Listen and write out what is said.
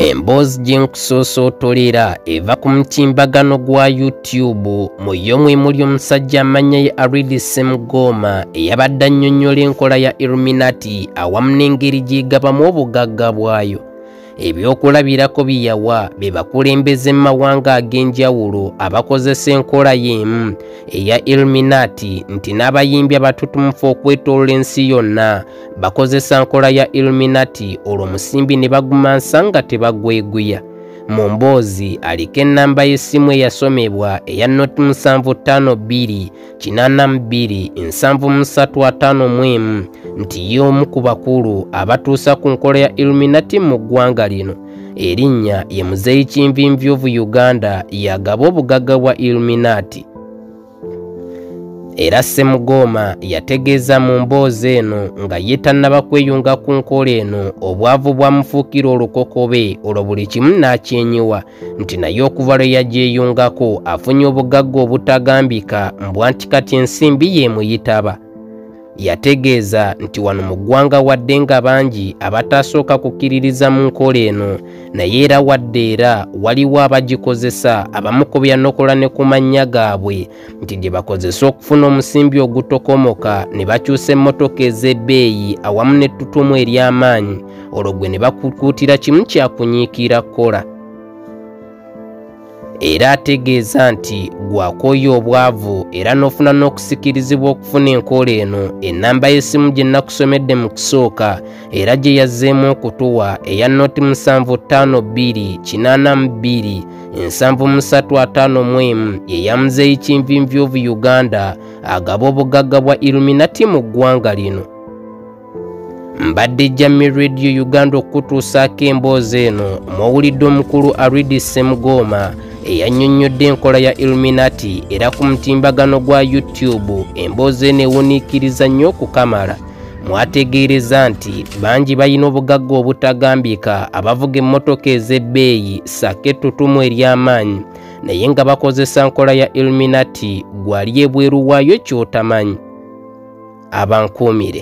emboozi gye nkusoosootoleera eva ku mutimbagano gwa youtube mu yo mwe muli omusajja amannya ye aridi semugooma eyabadde annyonnyola enkola ya illuminati awamu n'engeri gy'egabamu obugagga bwayo Ebyokulabirako bye yawa be bakulembeze mu mawanga ag'enjawulo abakozesa enkola y'emu eya Illuminati nti n'abayimbi abatutumufu okwetolola ensi yonna bakozesa nkola ya Illuminati olwo musimbi ne bagumansa nga tebagweguya. Mu mboozi aliko ennamba y'essimu eyasomebwa eya not musanvu ttaano bbiri kinana mu bbiri nsanvu mu ssatu ataano mu emu nti ye omu ku bakulu abatuusa ku nkola ya illuminati mu ggwanga lino erinnya ye muzeeyi kinvinvi ovu uganda yagaba obugagga bwa illuminati era semugooma yategeeza mu mboozi eno nga ye tannaba kweyunga ku nkola eno obwavu bwamufuukira olukokobe olwo buli kimu n'akyenyiwa nti naye okuva lwe yagyeyungako afunye obugagga obutagambika mbwa nti kati ensimbi yeemuyitaba yategeeza nti wano mu ggwanga wadde nga bangi abatasooka kukkiririza mu nkola eno naye era wadde era waliwo abagikozesa abamukubya nokola ne ku mannya gaabwe nti gye bakozesa okufuna omusimbi ogutokomoka ne bakyusa emmotoka ez'ebbeeyi awamu n'ettutumu ery'amaanyi olwo gwe ne bakukuutira kimu kya kunyiikira kukola era ategeeza nti gwakooya obwavu era n'ofuna n'okusikirizibwa okufuna enkola eno ennamba y'essimu gye nnakusomedde mu kusooka era gye yazzeemu okutuwa eya noti musanvu ttaano bbiri kinaana mu bbiri ensanvu musatu ataano mu emu eya muzeeyi kinvinvi of uganda agaba obugagga bwa iluminati mu ggwanga lino mbadde jami radio uganda okukutuusaako emboozi eno mwowulidde omukulu aridi semugooma eyannyonnyodde enkola ya iluminati era ku mutimbagano gwa youtube emboozi eno ewuniikiriza nnyo okukamala mwategeereza nti bangi balina obugagga obutagambika abavuga emmotoka ez'ebbeeyi ssaako ettutumu ery'amaanyi naye nga bakozesa nkola ya illuminati gwali ebweru waayo ky'otamanyi abankuumire